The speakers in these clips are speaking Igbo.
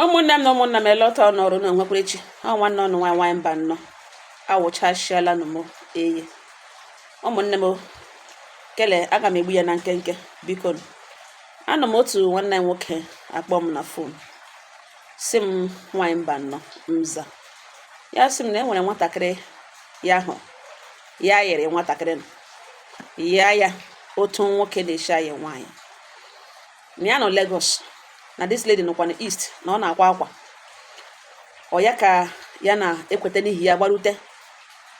ụmụnne m na ụmụnna m elọtanụ ọrụ na o nwekwara echi ọ nwanne unu nwaanyị nwaanyị Mbano awụchasịala nụ m eyi ụmụnne m kele a ga m egbu ya na nkenke biko anọ m otu nwanne m nwoke akpọ m na fon sị m nwaanyị Mbano m za ya sị m na e nwere nwatakịrị ya ahụ ya yịrị nwatakịrị ya ya otu nwoke na-eshi ayị nwaanyị na ya nọ Lagos na this lady nọkwa na East na ọ na-akwa akwa ọ ya ka ya na-ekweta n'ihi ya gbarute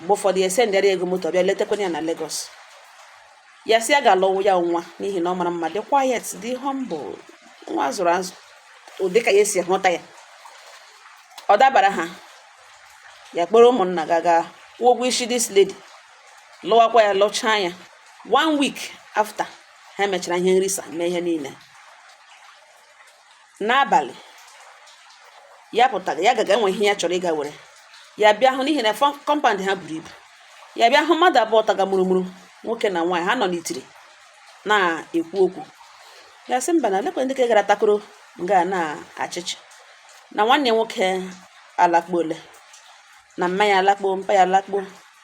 mgbe ụfọdụ ya esendịara ego moto bịa letakwana ya na Lagos ya sị ya ga-alụwụ ya nwa n'ihi na ọ mara mma dị quiet dị humble nwa a zụrụ azụ ụdị ka ya esi hụta ya ọ dabara ha ya kpọrọ ụmụnna ga ga kwụọ ụgwọ isi this lady lụwakwa ya lụchaa ya one week after ha mechara ihe nrisa mee ihe niile n'abalị ya pụtara ya gaga iwe ihe ya chọrọ ịga were ya bịa hụ n'ihi na compound ha buru ibu ya bịa hụ mmadụ abụọ taga mụrụmụrụ nwoke na nwaanyị ha nọ n'itiri na-ekwu okwu ya sị mba na elekwe ndị ke gara takoro nga n'ọchịchị na nwanne ya nwoke alakpuole na mma ya alakpuo mpa ya alakpuo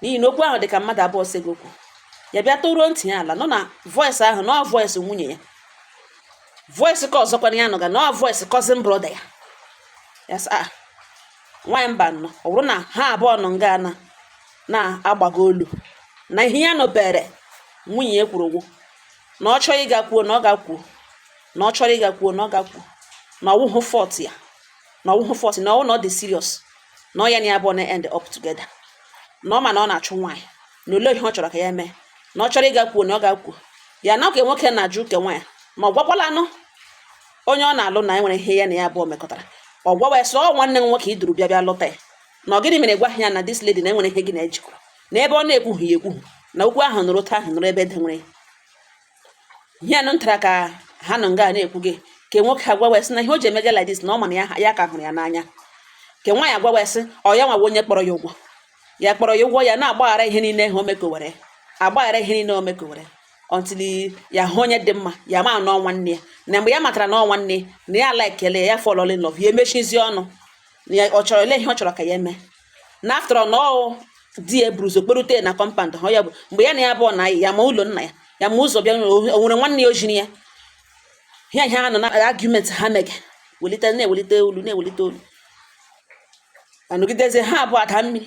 n'ihi na okwu ahụ dị ka mmadụ abụọ sega okwu ya bịa tọruo ntị ya ala nụ na voice ahụ na ọ voice nwunye ya voice ke ọzọkwanụ ya nụga na ọ voice cousin brother ya ya sị ah, nwaanyị Mbano ọ bụrụ na ha abụọ nọ nga na na-agbago olu na ihe ya nụbere nwunye ya kwuru ọ wụ na ọ chọrọ ịga kwuo na ọ ga kwuo na ọ chọrọ ịga kwuo na ọ ga kwuo na ọ wụghị fault ya na ọ wụhụ force na ọ wụ na ọ dị serious na ọ ya na ya abụọ na-end up together na ọ ma na ọ na-achụ nwaanyị na olee ihe ọ chọrọ ka ya mee na ọ chọrọ ịga kwuo na ọ ga kwuo ya na ke nwoke na-ajụ ke nwaanyị ma ọ gwakwalanụ onye ọ na-alụ na e nwere ihe ya na ya abụọ mekọtara ọ gwawa ya sị ọ nwanne m nwoke i duru bịa bịa lụta ya na ọ gịnị mere ị gwaghị ya na this lady na e nwere ihe gị na ya jikọ na ebe ọ na-ekwughị ya ekwu na okwu ahụ nọrọ otu ahụ nọrọ ebe e dewere ya ihe ya nụtara ka ha nọ nga na-ekwuga ke nwoke agwawa sị na ihe o ji emega like this na ọ ma na ya ya ka hụrụ ya n'anya ke nwaanyị agwawa sị ọ ya nwawa onye kpọrọ ya ugwo ya kpọrọ ya ugwo ya na-agbaghara ihe niile ha o mekowere agbaghara ihe niile o mekowere until ya hụ onye dị mma ya ma na ọ nwanne ya na mgbe ya matara na ọ nwanne na ya likele ya ya fall in love ya emechizi ọnụ na ya- ọ chọrọ elee ihe ọ chọrọ ka ya mee na after all na ọ di ya buru ụzọ kpọrute na compound ha ya bụ mgbe ya na ya abụọ na-ayị ya ma ụlọ nna ya ya ma ụzọ bịa n'ụlọ, o nwere nwanne ya o ziri ya ihe ha nọ na argument ha mege welite na-ewelite olu na-ewelite olu anọgidezi ha abụọ adaa mịị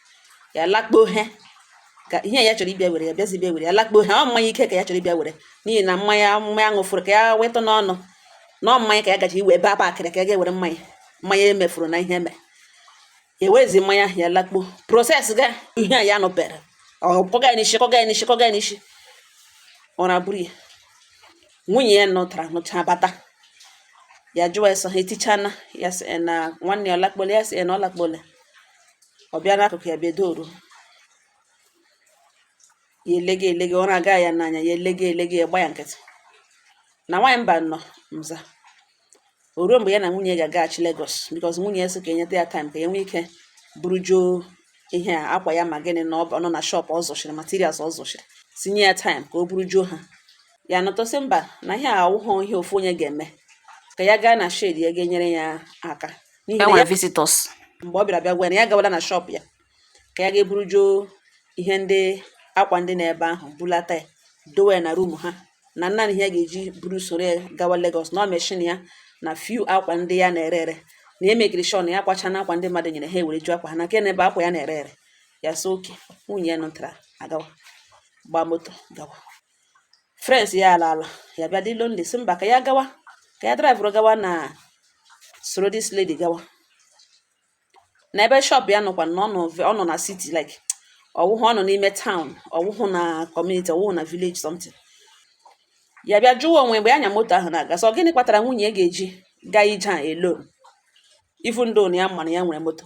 ya lakpo he ka ihe ya chọrọ ịbịa were ya bịazi bịa were ya lakpo he ọ mmanya ike ka ya chọrọ ịbịa were n'ihi na mmanya mmanya ṅụfụrụ ka ya wetụ n'ọnụ na ọ mmanya ka ya gaji iwe ebe aba akịrị ka ya ga-ewere mmanya mmanya emefuru na ihe eme ya werezi mmanya ya lakpo proses ga ihe a ya nụbere ọ kụga ya n'isi kụga ya n'isi kụga ya n'isi ọ na-abụrụ ya nwunye ya nụtara nụcha bata ya jụwa ya sị ọ ha etichana ya sị na nwanne ya ọ lakpole ya sị na ọ lakpole ọ bịa n'akụkụ ya bedoro ya elege elege ọ na-aga ya n'anya ya elege elege ya gba ya nkịtị na nwaanyị mba nọ mza o ruo mgbe ya na nwunye ga-agaghachi Lagos because nwunye ya sị ka e nyetụ ya time ka ya nwee ike burujuo ihe a akwa ya ma gịnị na ọ nọ na shop ọ zụchiri materials ọ zụchiri tinye ya time ka o burujuo ha ya nọtụ sị mba na ihe a awụghọ ihe ofu onye ga-eme ka ya gaa na shade ya ga-enyere ya aka n'ihi na ya visitors mgbe ọ bịara bịa gwa ya na ya gawala na shop ya ka ya ga-eburujuo ihe ndị akwa ndị n'ebe ahụ bulata ya dowe ya na room ha na naanị ihe ya ga-eji buru soro ya gawa Lagos na ọ machine ya na few akwa ndị ya na-ere ere na ya mekiri sure na ya kwachana akwa ndị mmadụ nyere ha ewerejuo akwa ha na nke na-ebe akwa ya na-ere ere ya sị okay nwunye ya nụtara agawa gbaa moto gawa friends ya alaala ya bịa dị lonely sị mba ka ya gawa ka ya drivụrụ gawa na soro this lady gawa na ebe shop ya nọkwa na ọ nọ na city like ọ wụhụ ọ nọ n'ime town ọ wụhụ na community ọ wụhụ na village something ya bịa jụwa onwe mgbe ọ nya moto ahụ na-aga sị ọ gịnị kpatara nwunye ga-eji gaa ije a alone even though na ya ma na ya nwere moto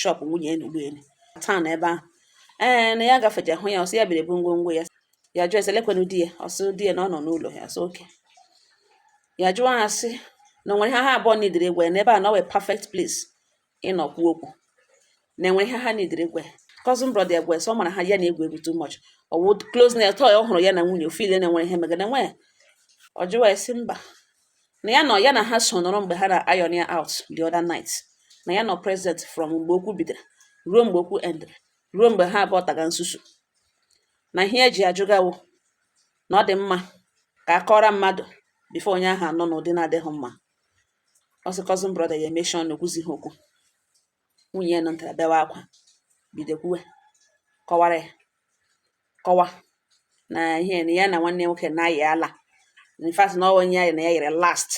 shop nwunye enu ụgbọelu town ebe ahụ ee na ya gafecha hụ ya ọ sị ya bịara ebu ngwongwo ya ya jụọ ya sị lekwenụ di ya ọ sị di ya na ọ nọ n'ụlọ ya sị okay ya jụọ ha sị na o nwere ihe ha abụọ needere ịgwa ya n'ebe a na ọ wụ perfect place ịnọ kwuo okwu na e nwere ihe ha needere ịgwa ya cousin brother ya gwe sị ọ mara ha ya na-egwu egwu too much ọ wụ closeness tọọ ya ọ hụrụ ya na nwunye o feel na e nwere ihe megana nwee ọ jụwa ya sị mba na ya nọ ya na ha so nọrọ mgbe ha na-iron ya out the other night na ya nọ present from mgbe okwu bidoro ruo mgbe okwu endere ruo mgbe ha abụọ taga nsusu na ihe e ji ajụga wụ na ọ dị mma ka a kọọra mmadụ before onye ahụ anụ n'ụdị na-adịghị mma ọ sị cousin brother ya emechie ọnụ o kwuzighị okwu nwunye ya nụtara bewe akwa bido kwuwe kọwara ya kọwa na ihe na ya na nwanne ya nwoke na-ayị ala in fact na ọ onye ya na ya yịrị last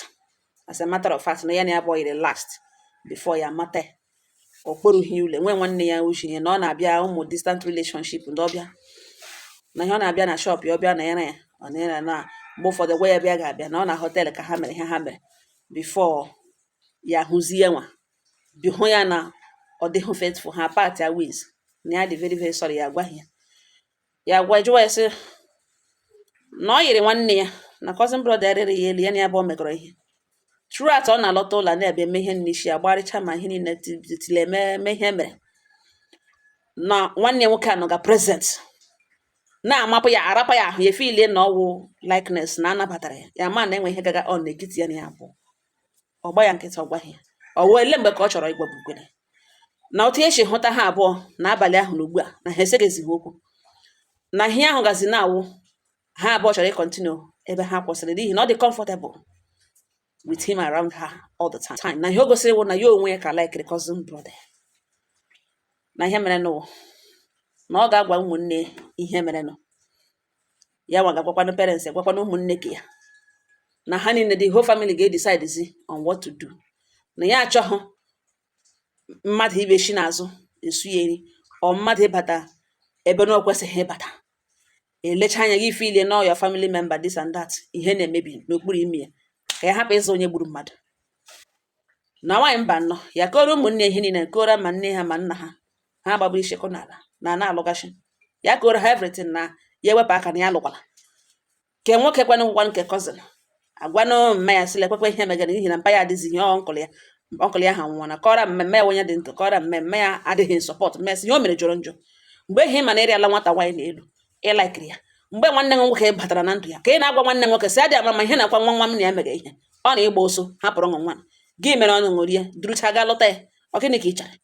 as a matter of fact na ya na ya abụọ yịrị last before ya mata ya. ọ kpọrọghị ya ule nwee nwanne ya uche ya na ọ na-abịa ụmụ distant relationship ndị ọbịa na ihe ọ na-abịa na shop ya ọ bịa na ya na ya ọ na ya na mgbe ụfọdụ gwa ya bịa ga-abịa na ọ na hotel ka ha mere ihe ha mere before ya hụzie nwa bi hụ ya na ọ dịghị faithful ha part ya ways na ya dị very very sorry ya agwaghị ya ya gwa jụwa ya sị na ọ yiri nwanne ya na cousin brother rịrị ya elu ya na ya bụ ọ megọrọ ihe throughout ọ na-alọta ụlọ na-ebe eme ihe n'isi ya gbarịcha ma ihe niile tile eme ihe mere na nwanne ya nwoke anọga present na-amapụ ya arapụ ya ahụ ya efilie na ọwụ likeness na anabatara ya ya ma na e nwe ihe gaga on n'etiti ya na ya abụọ ọ gba ya nkịtị ọ gwaghị ya ọ wee ele mgbe ka ọ chọrọ ịgwa Bukwere na otu e si hụta ha abụọ n'abalị ahụ na ugbu a na ha eseghịzighị okwu na ihe ahụ gazi na-awụ ha abụọ chọrọ ịkọntinu ebe ha kwụsịrị n'ihi na ọ dị comfortable with him around her all the time na ihe o gosiri wụ na ya onwe ya ka likere cousin brother na ihe mere nụ wụ na ọ ga-agwa ụmụnne ihe mere nụ ya nwa ga-agwakwanụ parents ya gwakwanụ ụmụnne ka ya na ha niile the whole family ga-edecidezi on what to do na ya achọghị mmadụ ịbịa shi n'azụ eso ya eri or mmadụ ịbata ebe na o kwesịghị ịbata elecha anya gị efilie na your family member this and that ihe na-emebi n'okpuru ime ya ka ya hapụ ịwụ onye gburu mmadụ na nwaanyị mba nnọọ ya kọrọ ụmụnne ihe niile kọrọ ma nne ha ma nna ha ha gbagbu ishi kọ n'ala na na-alụgasị ya kọrọ ha everything na ya ewepụ aka na ya alụkwala ke nwoke kwanụ ngwa nke cousin agwanụ mma ya sịla ekwekwe ihe megara n'ihi na mpa ya adịzighị uncle ya uncle ya anwụọna kọrọ mummy ya onye dị ndụ kọrọ mummy ya adịghị in support mummy sị ihe o mere jọrọ njọ mgbe ị ma na ị rịala nwata nwaanyị n'elu ị laikiri ya mgbe nwanne m nwoke batara na ndụ ya ka ị na-agwa nwanne nwoke sị adị ama ma ihe na-akwa nwa nwa m na ya mere ihe ọ na ị gba ọsọ hapụrụ nwa nwa gị mere ọnụ ṅụrie durucha gaa lụta ya ọ gịnị ka ị chọrọ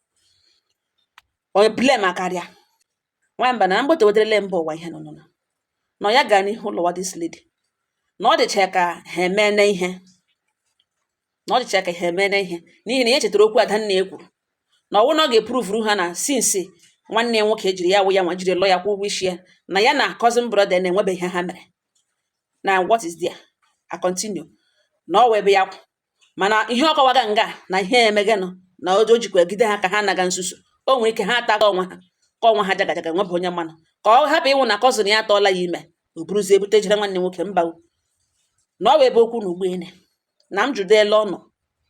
Onye blame akarịa. Nwamba na m gbotowatara mba ụwa ihe nụnụnụ. Na ya ga n'ihu lụwa this lady. Na ọ dịcha ka ha emene ihe. Na ọ dịcha ka ha emene ihe. N'ihi na ya chetara okwu Adanne e kwuru. Na ọwụ na ọ ga-epruvuru ha na since nwanne ya nwoke jiri ya wụ ya nwa jiri lụọ ya kwụ ụgwọ isi ya na ya na cousin brother na e nwebeghị ihe ha mere. Na what is there? I continue. Na ọ wụ ebe ya kwụ. mana ihe ọ kọwaga nga a na ihe megenụ na o o jikwa gide ha ka ha naga nsusu o nwere ike ha ataga onwe ha ka onwe ha jagajaga nwebe onye manụ ka ọ hapụ ịwụ na cousin ya atụọla ya ime o buruzie bute jere nwanne nwoke mba o. na ọ wụ ebe ọ kwụ na ugbo ene na m jụdo ele unu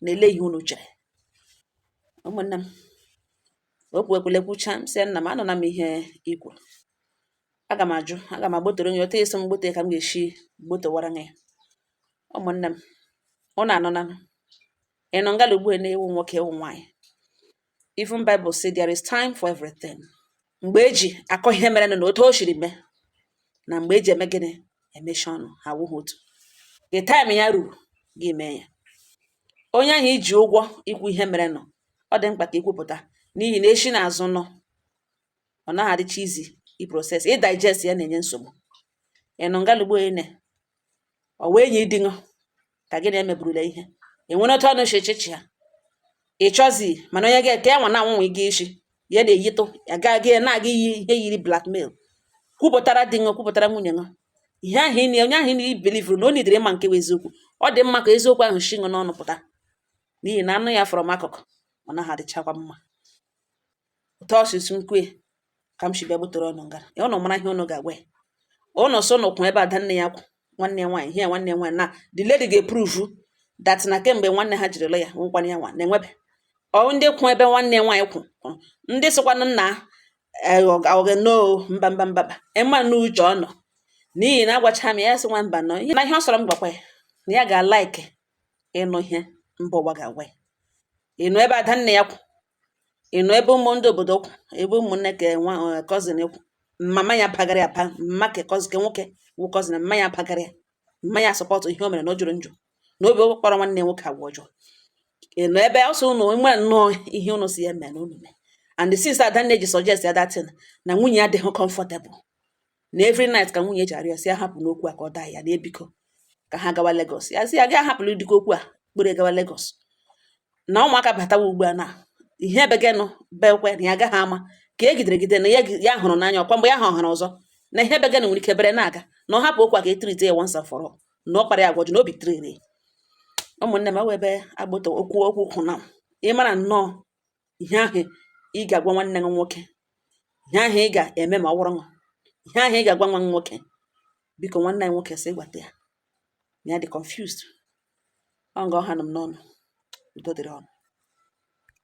na ele ihe unu chere ụmụnne m okwu ekwule kwucha m sị nna m anụna m ihe i kwuru aga m ajụ aga m agbotoro ya otu e si m gbote ka m ga-esi gbotowara ya ụmụnne m ụnụ anụnanụ ị nọ ngala ugbu a na ị wụ nwoke ị wụ nwaanyị even Bible say there is time for everything mgbe eji akọ ihe mere na otu o siri mee na mgbe eji eme gịnị emechi ọnụ ha awụghị otu the time ya ruru gị mee ya onye ahụ i ji ụgwọ ikwu ihe mere nụ ọ dị mkpa ka i kwupụta n'ihi na e shi n'azụ nụ ọ naghị adịcha easy ị process ị digest ya na-enye nsogbu ị nọ ngala ugbu a na ọ wụ enyi di ṅụ ka gị na-emeburula ihe e nwere otu ụnụ si echichi ya ị chọzi mana onye ga-ete ya nwa na-anwanwe gị isi ya na-eyitụ ya gaa gị na-aga iyi ihe yiri blackmail kwupụtara di ṅụ kwupụtara nwunye ṅụ ihe ahụ ị na- onye ahụ ị na-ebilivuru na o nidere ịma nke bụ eziokwu ọ dị mma ka eziokwu ahụ si ṅụ n'ọnụ pụta n'ihi na a nụ ya from akụkụ ọ naghị adịchakwa mma otu ọ sịsị nkwe ka m si bịa butere ụnụ nga ya ụnụ mara ihe ụnụ ga-agwa ya ụnụ so ụnụ kwụ ebe adanne ya kwụ nwanne ya nwaanyị ihe ya nwanne ya nwaanyị na the lady ga-eprove that na kemgbe nwanne ha jiri lụ ya nwụkwara ya nwa na-enwebe ọ ndị kwụ ebe nwanne ya nwaanyị kwụ kwụrụ ndị sịkwanụ nna ọghe no mba mba mba ị ma na uche ọ nọ n'ihi na agwacha m ya sị nwa mba nụ ihe na ihe ọ sọrọ m gwakwa ya na ya ga-alaiki ịnụ ihe mba ụwa ga-agwa ya ị nọ ebe adanne ya kwụ ị nọ ebe ụmụ ndị obodo kwụ ebe ụmụnne ka nwa eh, cousin kwụ mama ya pagara ya pa mma ka cousin ka nwoke wụ cousin mma ya pagara ya mma ya support ihe o mere na ọ jọrọ njọ na Obi kpara nwanne ya nwoke agwa ọjọọ ị nọ ebe ọ sọ ụnụ nwere nnọọ ihe ụnụ sị ya mee na ụnụ mee and since adanne ji suggest ya that thing na nwunye ya adịghị comfortable na every night ka nwunye ji arịọ sị ya hapụnụ okwu a ka ọ daa ya na biko ka ha gawa Lagos ya sị ya gị ahapụla dịka okwu a kpọrọ gawa Lagos na ụmụaka batawa ugbu a na ihe ebe gị nọ bekwe na ya agaghị ama ka e gidere gide na ya gi- ya hụrụ n'anya ọkwa mgbe ya ha ọhụrụ ọzọ na ihe ebe gị nọ nwere ike bere na-aga na ọ hapụ okwu a ka e treat ya once and for all na ọ kpara ya agwa ọjọọ na Obi tiriri ụmụnne m ewebe agbata okwu okwu kwụ na ị mara nnọọ ihe ahụ ị ga-agwa nwanne ṅụ nwoke ihe ahụ ị ga-eme ma ọ wụrụ ṅụ ihe ahụ ị ga-agwa nwa ṅụ nwoke biko nwanne anyị nwoke sị gwata ya na ya dị confused ọ nga ọ hanụ m n'ọnụ udo dịrị ụnụ